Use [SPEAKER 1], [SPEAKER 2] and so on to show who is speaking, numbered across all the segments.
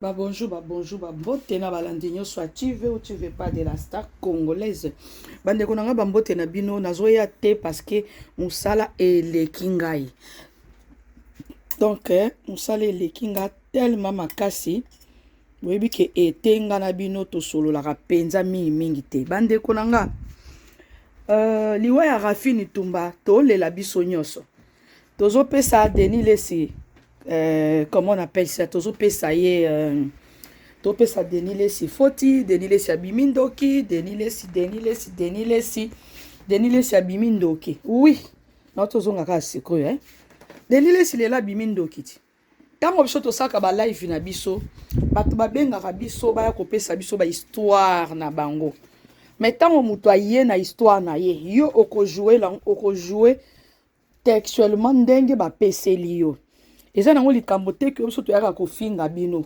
[SPEAKER 1] Ba bonjour, ba bonjour, ba mbote na balandi nyonso ya tu veux ou tu veux pas de la star congolaise. Bandeko na ngai ba mbote na bino nazoya te parce que mosala eleki ngai. Donc eh, mosala eleki ngai tellement makasi boyebi ke ete ngai na bino tosololaka mpenza mingi mingi te. Bandeko na ngai uh, liwa ya Raphine Tumba tolela biso nyonso. tozo pesa Denis Lessi euh, comment on appelle ça tozo pesa ye euh, to pesa Denis Lessi foti Denis Lessi abimi ndoki Denis Lessi Denis Lessi Denis Lessi Denis Lessi abimi ndoki oui na tozonga kaka sikoyo eh Denis Lessi lela abimi ndoki ti ntango biso tosalaka balive na biso bato babengaka biso baya kopesa biso bahistware na bango me ntango moto aye na histware na ye yo okojoue okojoue textuellement ndenge bapeseli yo eza nango likambo te ke biso toyaka kofinga bino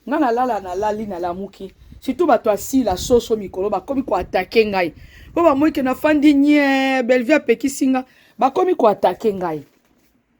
[SPEAKER 1] ngai nalala nalali nalamuki surtout bato asila soso mikolo bakomi koatake ngai mpo bamoike nafandi nye bellevue apekisi nga bakomi koatake ngai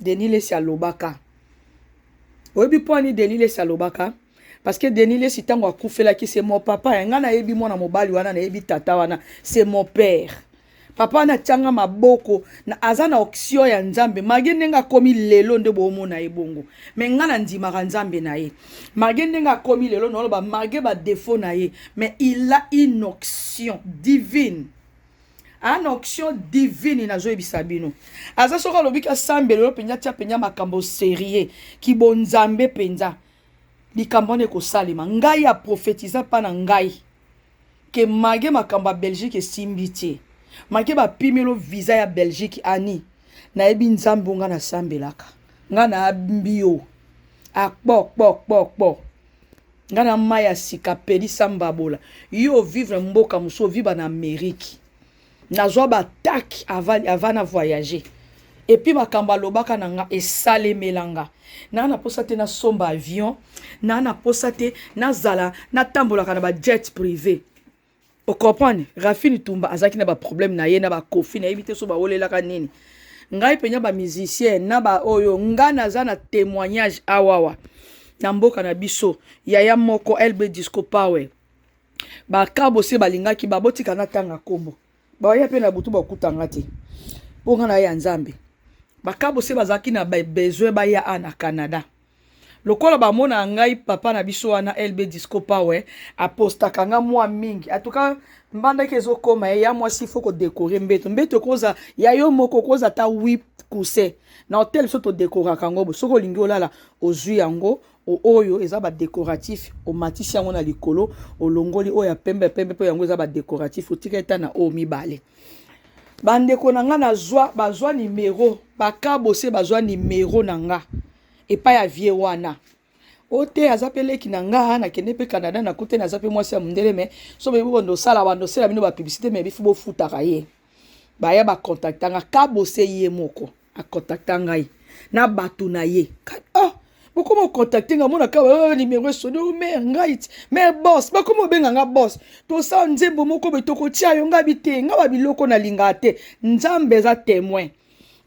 [SPEAKER 1] Denis Lesi alobaka. Oyebi mpo ani Denis Lesi alobaka? Parce que Denis Lesi ntango akufelaki c'est mon papa. Yanga nayebi mwana mobali wana nayebi tata wana c'est mon père. Papa wana atianga maboko na, aza na oksio ya Nzambe. Mage ndenge akomi lelo nde boomona ye bongo. Me nga na ndimaka Nzambe na ye. Mage ndenge akomi lelo naoloba mage ba defaut na ye. Mais il a une onction divine. an onction divine nazoyebisa bino aza soki alobi ki asambela yo mpenza tia mpenza makambo serieux kibonzambe mpenza likambo wana ekosalema ngai ya profetiza mpa na ngai ke mage makambo ya belgique esimbi te make bapimelo visa ya belgique ani nayebi nzambe onga nasambelaka ngai nayambi yo akpokpokpokpo nga na mai ya sika pelisa mbabola yo ovivre mboka mosusu oviba na amerike nazwa batake ava na voyage epuis makambo alobaka na nga esalemela nga naa na mposa te nasomba avion naa na mposa te nazala natambolaka na bajet privé o comprendre rafini tumba azalaki na baproblème na ye na bakofi nayebi te so bawolelaka nini ngai mpenza bamusicien na baoyo ngai naza na témoignage awawa na mboka na biso yaya moko lb disco power bakabo se balingaki babotika natanga nkombo baya mpe na butu bakuta nga te mpo nga na ya nzambe bakabo se bazalaki na besoin baya a na canada lokola bamona ngai papa na biso wana lb disco power apostaka nga mwa mingi atuka mbandaki ezokoma ye ya mwasi fo kodekore mbeto mbeto ekoza ya yo moko okoza ata 8 kuse na hotel biso todekoraka yango soki olingi olala ozwi yango O oyo eza ba decoratif omatisi yango na likolo olongoli oyo ya pembe ya pembe mpo yango eza ba decoratif otikali ta na oyo mibale bandeko na nga nazwa bazwa nimero bakabose bazwa nimero na nga epai ya vie wana o te aza mpe leki na nga nakende mpe canada nakutani aza mpe mwasi ya mondele me so boyebi bando osala bando osala bino bapiblisite me bifi bofutaka ye baya bakontaktanga kabose ye moko akontakta ngai na bato na ye oh, bokoma okontakte nga monaka oh, nimero esoni o oh, mare ngai ti mare bos bakoma obenga nga bos tosala nzembo moko boye tokotia yo ngai bite nga ba biloko nalingaka te nzambe eza temoin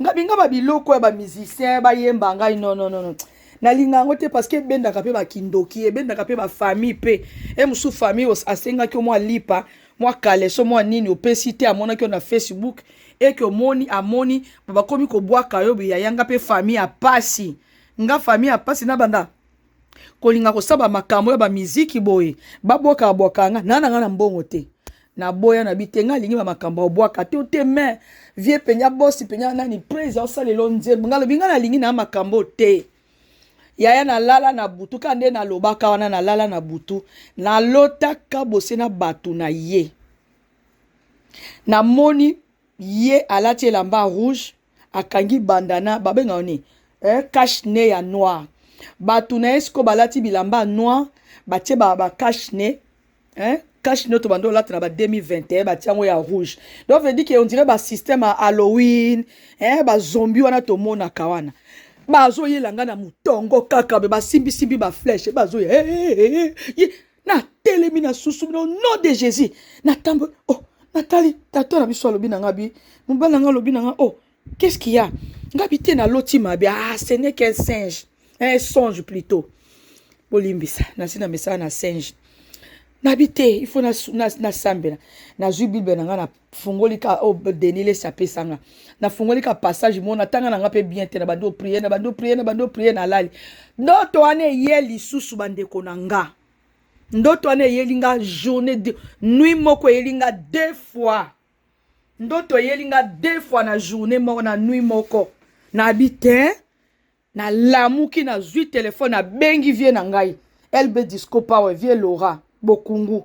[SPEAKER 1] nga binga ba biloko ya bamusicien bayemba ngai nononono no, no. nalinga yango te parce que ebendaka mpe bakindoki ebendaka mpe bafamille mpe e mosusu famille asengaki omwa lipa mwa kaleso mwa nini opesi te amonaki yo na facebook eke omoni amoni bakomi kobwaka yo biyaya nga mpe famille ya pasi nga famille ya pasi nabanda kolinga kosaba makambo ya bamiziki boye babwakaka bwaka nga naa na nga na mbongo te naboya na bite nga alingi bamakambo obwaka te te me vie mpenza bosi mpenza nani presa osalelo nzembo nga lobi nga nalingi na makambo te yaya nalala na butu kaka nde nalobaka wana nalala na butu nalotaka bose na bato na ye namoni ye alati elamba ya rouge akangi bandana babengaka nini eh, cache ne ya noir bato na ye siko balati bilamba ya noir batie ba, ba cache ne hein cache nioto bando olata na ba 2021 batia yango ya rouge donc veut dire que on dirait ba système ya halloween hein ba zombie wana tomonaka wana bazoyela ngai na motongo kaka be basimbisimbi bafleshe bazoya hey, hey, hey, hey. natelemi na susu no nom de jésus natamboli oh natali tata na biso alobi na ngai bi mobali na ngai alobi na ngai oh Qu'est-ce qu'il y a? Nga bite na loti mabe. Ah, ce n'est qu'un singe. Un songe plutôt. Bolimbisa. Nasi na mesana na singe. nabi te il faut nasambela nazwi bible na ngai nafungoli ka oyo oh, denile sapesa nga nafungoli ka passage moko natanga na ngai mpe bien te na bandi oprie na bandi oprie na bandi oprie nalali ndoto wana eye lisusu bandeko na nga ndoto wana eyeli nga journée de nuit moko eyeli nga deux fois Ndoto eyeli nga deux fois na journée moko na nuit moko. Na bi te na lamuki na zui telefone na bengi vie na ngai. LB Disco Power vie Laura Bokungu.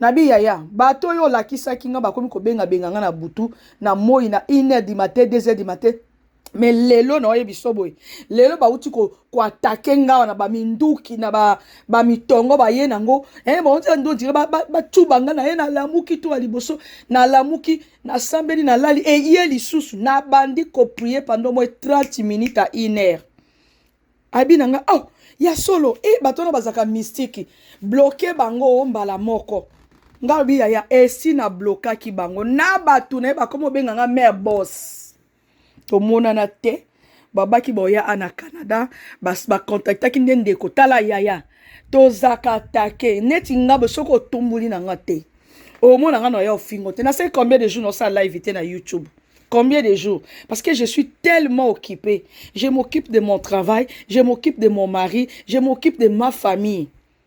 [SPEAKER 1] Na bi yaya bato oyo olakisaki nga bakomi kobenga benga nga na butu na moi na 1 heure du matin 2 heures du matin me lelo na oyebi so boye lelo bauti koatake ko ngawa na baminduki na bamitongo ba baye nango eh, bauti ndo dire bacuba nga na ye nalamuki to ya liboso nalamuki nasambeli nalali eye lisusu nabandi koprie pando moye 30 minute a une heure abi na nga oh, ya solo e eh, bato wana bazalaka mistiki bloke bango mbala moko ngai obi yaya esi eh, na blokaki bango na bato na ye bakoma obenga nga mare boss tomonana te babaki boya a na canada bacontactaki nde ndeko tala yaya tozaka atake neti nga bo soki otumbuli na nga te omona nga na ya ofingo te naseki combien de jour naosala live te na youtube combien de jours Parce que je suis tellement occupée. Je m'occupe de mon travail, je m'occupe de mon mari, je m'occupe de ma famille.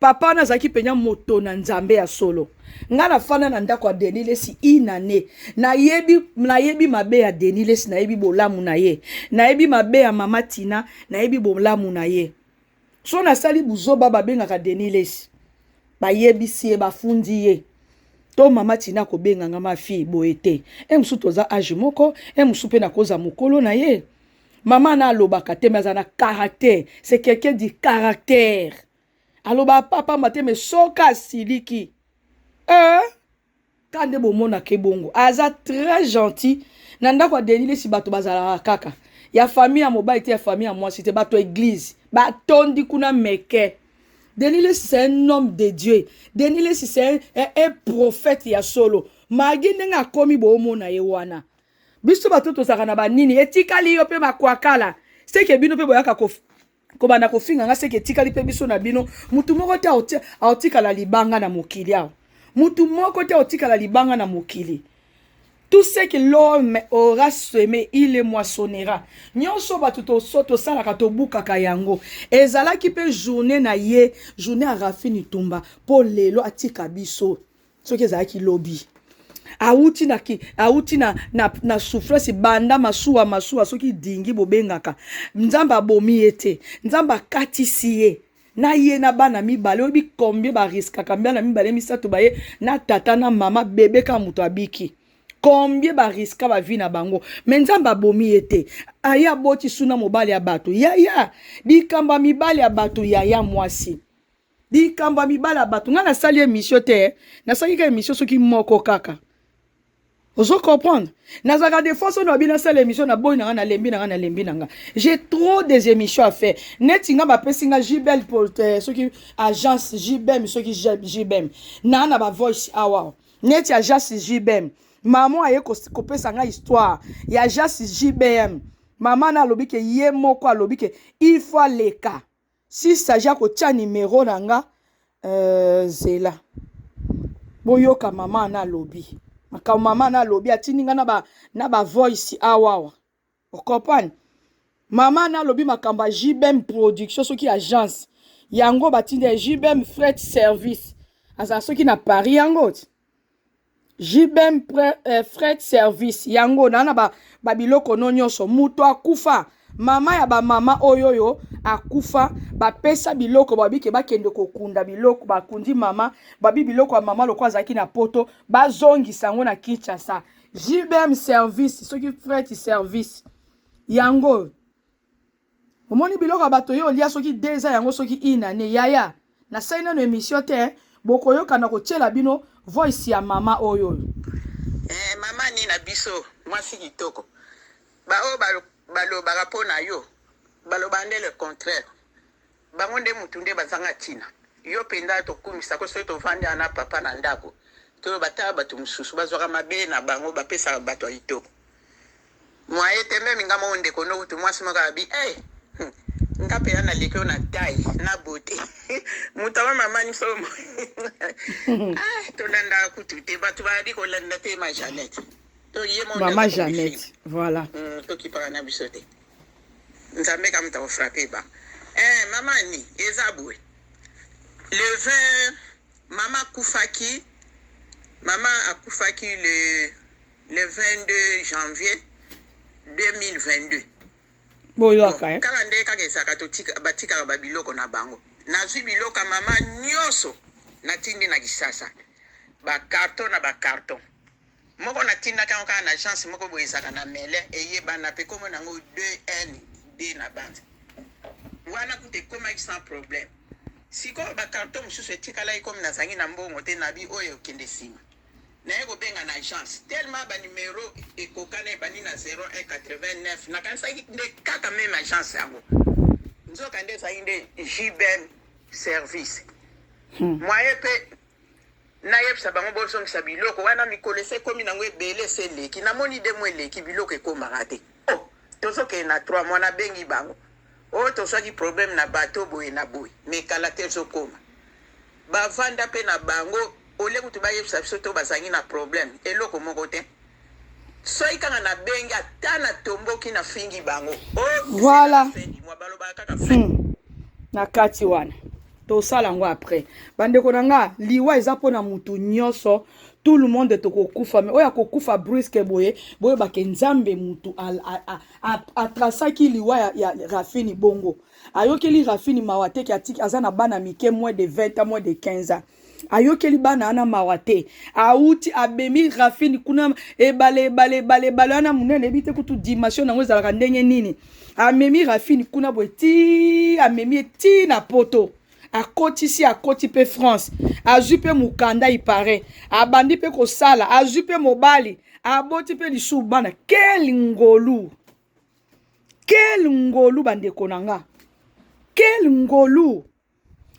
[SPEAKER 1] papa wana azalaki mpenza moto na nzambe ya solo ngai nafanda na ndako ya denis lesi inane nayebi nayebi mabe ya denis lesi nayebi bolamu na ye nayebi mabe ya mama tina nayebi bolamu na ye so nasali buzoba babengaka denis lesi bayebisi ye bafundi ye to mama tina kobenga nga ma fille boye te e mosusu toza age moko e mosusu mpe nakoza mokolo na ye mama na alobaka te me aza na caractère c'est quelqu'un du caractère aloba pamba te me soki asiliki eh? ka nde bomonaka ebongo aza très gentil na ndako ya deni lesi bato bazalaka kaka ya famille ya mobali te ya famille ya mwasi te bato ya eglize batondi kuna meke deni lesi c'est un homme de dieu deni lesi c'est un, un, un prophète ya solo magi ndenge akomi boomona ye wana biso bato tozalaka na banini etikali yo mpe makwakala seke bino mpe boyaka kobanda kofinga nga seke etikali mpe biso na bino motu moko te aotikala libanga na mokili awa motu moko te aotikala libanga na mokili tout ce que l'homme aura semé il le moissonnera nyonso bato tosalaka tobukaka yango ezalaki mpe journée na ye journée ya rafini tumba mpo lelo atika biso soki ezalaki lobi awuti na, awuti na, na, na souffrance banda masuwa masuwa soki dingi bobengaka nzambe abomi ye te nzambe akatisi ye na ye na bana mibale oyebi combien bariskaka bana mibale misato baye na tata na mama bebe kaka moto abiki combien bariska bavi na bango me nzambe abomi ye te aye aboti suna mobali ya bato yaya likambo ya mibali ya bato yaya mwasi likambo ya mibala bato ngai nasali emission te eh. nasali ka emission soki moko kaka ozo comprendre nazalaka de fois soki abina asala émission na boyi na nga nalembi na nga nalembi na nga j'ai trop des émissions à faire neti nga bapesi nga jbel euh, soki agence jbem soki jbem naa na bavoice awa neti agence jbem mama aye kopesa nga histoire ya agence jbm mama na alobi ke ye moko alobi ke il faut aleka si saje akotia nimero na nga euh, zela boyoka mama na alobi makambo mama na alobi atindi nga na ba, na ba voice awawa okompane mama na alobi makambo ya jbm production soki agence yango batindi ya jbm fret service azala soki na paris yango ti JBM eh, fret service yango na na ba, ba biloko no nyonso moto akufa mama ya bamama oyo oyo akufa bapesa biloko babike bakende kokunda biloko bakundi mama babi biloko ya mama lokola azalaki na poto bazongisa yango na kinshasa jbm service soki fret service yango omoni biloko ya bato yo olia soki deux ans yango soki une annee yaya nasali nano emission te bokoyoka na kotiela bino voice ya mama oyo oyo eh, mama
[SPEAKER 2] ni na biso mwasi kitoko baoyo balobaka mpo na yo baloba nde le contraire Bango nde mutu nde bazanga tina. Yo penza tokumisa ko soki tovandi awa na papa na ndaku toloba tala batu mususu bazwaka mabe na bango bapesaka batu ya kitoko moyen te meme nga moko ndeko no kutu mwasi moko abi eh hmm, nga mpenza naleki oyo na tai na bote moto aba mamani somo ah, tolandaka kutu te bato bayali kolanda te ma janete to ye mama
[SPEAKER 1] janete voilà mm, tokipaka na
[SPEAKER 2] biso te Nzambe ka muta ko frapper ba. Eh mama ni eza boye. Le 20 mama akufaki mama akufaki le le 22 janvier 2022.
[SPEAKER 1] Boyoka eh. Kala nde kaka ezaka to
[SPEAKER 2] tika batika ba biloko na bango. Nazwi biloko ya mama nyoso natindi na Kisasa. Ba carton na ba carton. moko na tindaka yango kaka na agence moko boye ezalaka na mele eyebana mpe nkombo na yango 2n d na banza wana kuta ekomaki sans problème sikoyo bakarto mosusu etikalaki komi nazangi na mbongo te nabi oyo ekende nsima naye kobenga na agence tellement banimero ekokana ebandi na 0189 nakanisaki nde kaka meme agence yango nzoka nde ezalaki nde jbm service hmm. moye mpe nayebisa bango bozongisa biloko wana mikolo ese ekomi nango ebele ese eleki namoni de mo eleki biloko ekomaka te o oh, tozokende na trois mois nabengi bango o oh, tozwaki problème na bato boye na boye mekala te ezokoma bavanda mpe na bango ole kutu bayebisa biso to bazangi na problème eloko moko te soki kaka nabengi ata natomboki nafingi bango oh, voilà hmm. na
[SPEAKER 1] kati wana tosala yango après bandeko na nga liwa eza mpo na motu nyonso tout le monde tokokufa me oyo akokufa bruske boye boyebake nzambe motu atrasaki liwa ya, ya rafini bongo ayokeli rafini mawa teke atiki aza na bana mike moins de 20 ans moins de 15 ans ayokeli bana wana mawa te auti abemi rafini kuna ebale ebale ebale ebale wana monene ebi te kutu dimension yango ezalaka ndenge nini amemi rafini kuna boye ti amemi ye ti na poto akotisi akoti mpe france azwi mpe mokanda ipare abandi mpe kosala azwi mpe mobali aboti mpe lisusu bana kel ngolu kel ngolu bandeko na nga kel ngolu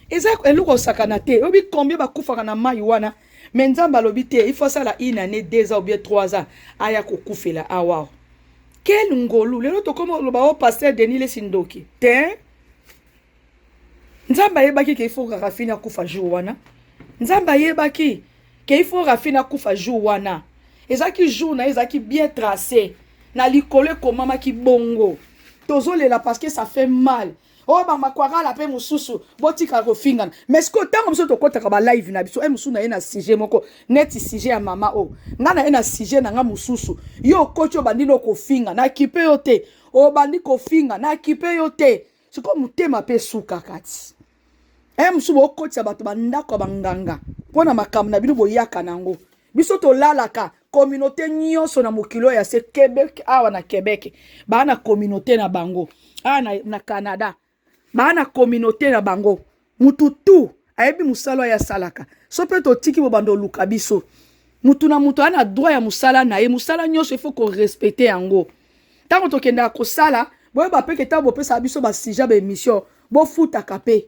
[SPEAKER 1] eza eloko osakana te oyebi combien bakufaka na mai wana me nzambe alobi te il faut asala une année deux ans ou bien trois ans aya kokufela awa quel ngolu lelo tokoma oloba o oh, paster denis lesi ndoki te nzambe ayebaki ke il faut rafine akufa jour wana nzambe ayebaki ke il faut rafine akufa jour wana ezalaki jour na ye ezalaki bien tracé na likolo ekomamaki bongo tozolela parce que ça fait mal oyo oh, bamakwakala mpe mosusu botika kofingana mais sikoyo ntango biso tokɔtaka balive na biso e mosusu na ye na sujet moko neti sujet ya mama oyo oh. ngai na ye na sujet na ngai mosusu yo okoti obandi no kofinga na kipe yo te obandi kofinga na kipe yo te sikoyo motema mpe esuka kati e mosusu bokotisa bato bandako ya banganga mpo na makambo na bino boyaka na yango biso tolalaka communauté nyonso na mokili oyo ya se quebec awa na quebec baa na communauté na bango awa na, na canada baa na communauté na bango mutu tu ayebi mosala oyo asalaka so mpe totiki bobanda oluka biso mutu na mutu aa na droit ya mosala na ye mosala nyonso ifo korespecte yango ntango tokendaka kosala boyeba mpe ke ntango bopesaka biso basija baemission bofutaka mpe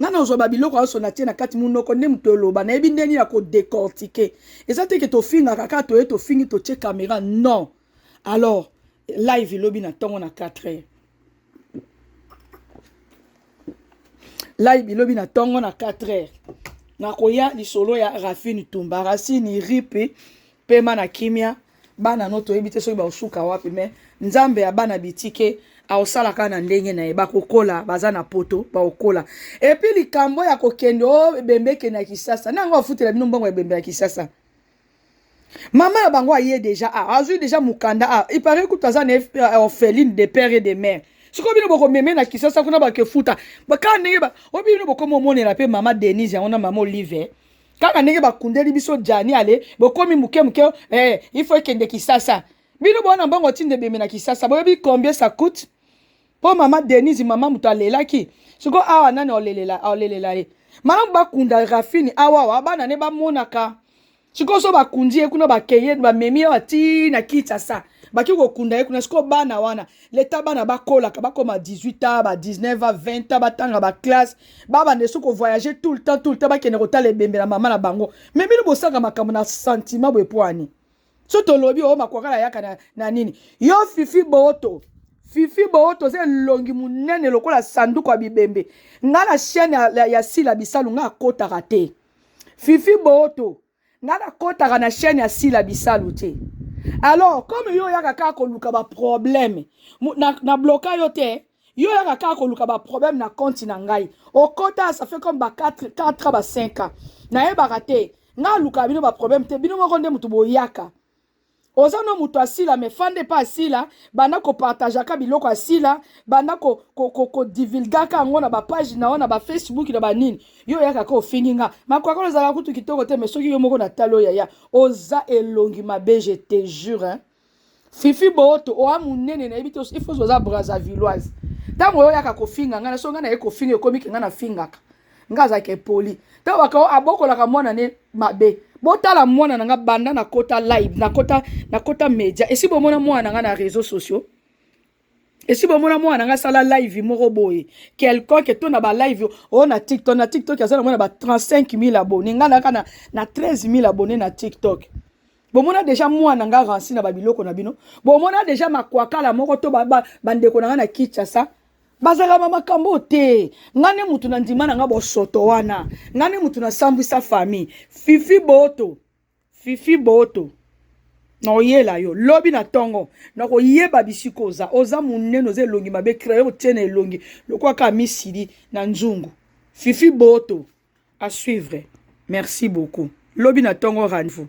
[SPEAKER 1] nga nazwa babiloko nyonso natie na kati monoko nde moto oloba nayebi nde nini ya kodecortike eza te ke tofingaka kaka toye tofingi totie kamera non alors live elobi na ntongo na 4 heures live elobi na ntongo na 4 heures nakoya lisolo ya rafine tumba racine ripe pema na kimia bana no toyebi te soki baosuka wapi me nzambe ya bana bitike aosala kaka na ndenge na ye bakokola baza na poto bakokola epuis likambo ya kokende o oh, ebembe ekende ya kisasa nango afutela bino mbongo ya ebembe ya kisasa mama na bango aye deja a ah, azwi deja mokanda a ah, ipare kutu aza na euh, orpheline de père et de mère sikoyo bino bokomeme na kisasa kuna bakefuta kaka ndenge oyo bino bokoma omonela mpe mama denise yango na mama olive kaka ndenge bakundeli biso jani ale bokomi moke moke eh, ifo ekende kisasa bino bowana mbongo ti nde bemena kisasa boyebi combien ça coûte mpo mama denise mama moto alelaki siko awa nani olelela olelela ye malamu bakunda rafini awawa bana ne bamonaka sikoyo so bakundi ye kuna bakeye bamemi ye ati na kinshasa baki kokunda ye kuna sikoyo bana wana leta bana bakolaka bakoma 18 ans ba 19 ans 20 ans batanga baklasse babanda esu kovoyage tout le temps tout le temps bakende kotala ebembe na mama na bango me bino bosaka makambo na sentiment boye mpo ani so tolobi oyo oh, makwakala yaka na, na nini yo fifi booto fifi booto oza elongi monene lokola sanduku ya bibembe ngai na chaine ya, ya, ya sila bisalu ngai akotaka te fifi booto nga nakotaka na chaîne ya sila bisalu te alors comme yo oyaka kaka koluka baproblème na, na bloka yo te yo oyaka kaka koluka baproblème na konti na ngai okota ça fait comme ba 4 4 ba 5 ans nayebaka te nga alukaka bino baproblème te bino moko nde moto boyaka oza no moto asila me fanda epa asila banda kopartageaka biloko asila banda kodivulgaka ko, ko yango na bapage na yo na bafacebook na banini yo oyaka ka ofingi nga makwakala ozalaka kutu kitoko te me soki yo moko na tali oyo yaya oza elongi mabe je te jure hein? fifi booto oa monene nayebi te ifoso oza brazavilloise ntango oyo oyaka kofinga ngai na so ngai naye kofinga ekomi ke ngai nafingaka nga azalaka epoli ntango bakao abokolaka mwana ne mabe botala mwana na nga banda nakota live nakota nakota media esi bomona mwana na nga na réseaux sociaux esi bomona mwana na nga asala live moko boye quelconque to na balive oyo oh, na tiktok na tiktok aza na mwana ba 35 000 abonné nga naka na, na 13 000 abonné na tiktok bomona deja mwana nga ransi na babiloko na bino bomona deja makwakala moko to bandeko ba, ba na nga na kinshasa bazalaka ba makambo te ngai nde motu na ndima na ngai bosoto wana ngai nde motu nasambwisa famille fifi boto fifi boto nakoyela yo lobi na ntongo nakoyeba bisika oza oza monene oza elongi mabe crayon otie na elongi lokola kaka misili na nzungu fifi boto à suivre merci beaucoup lobi na ntongo rendez-vous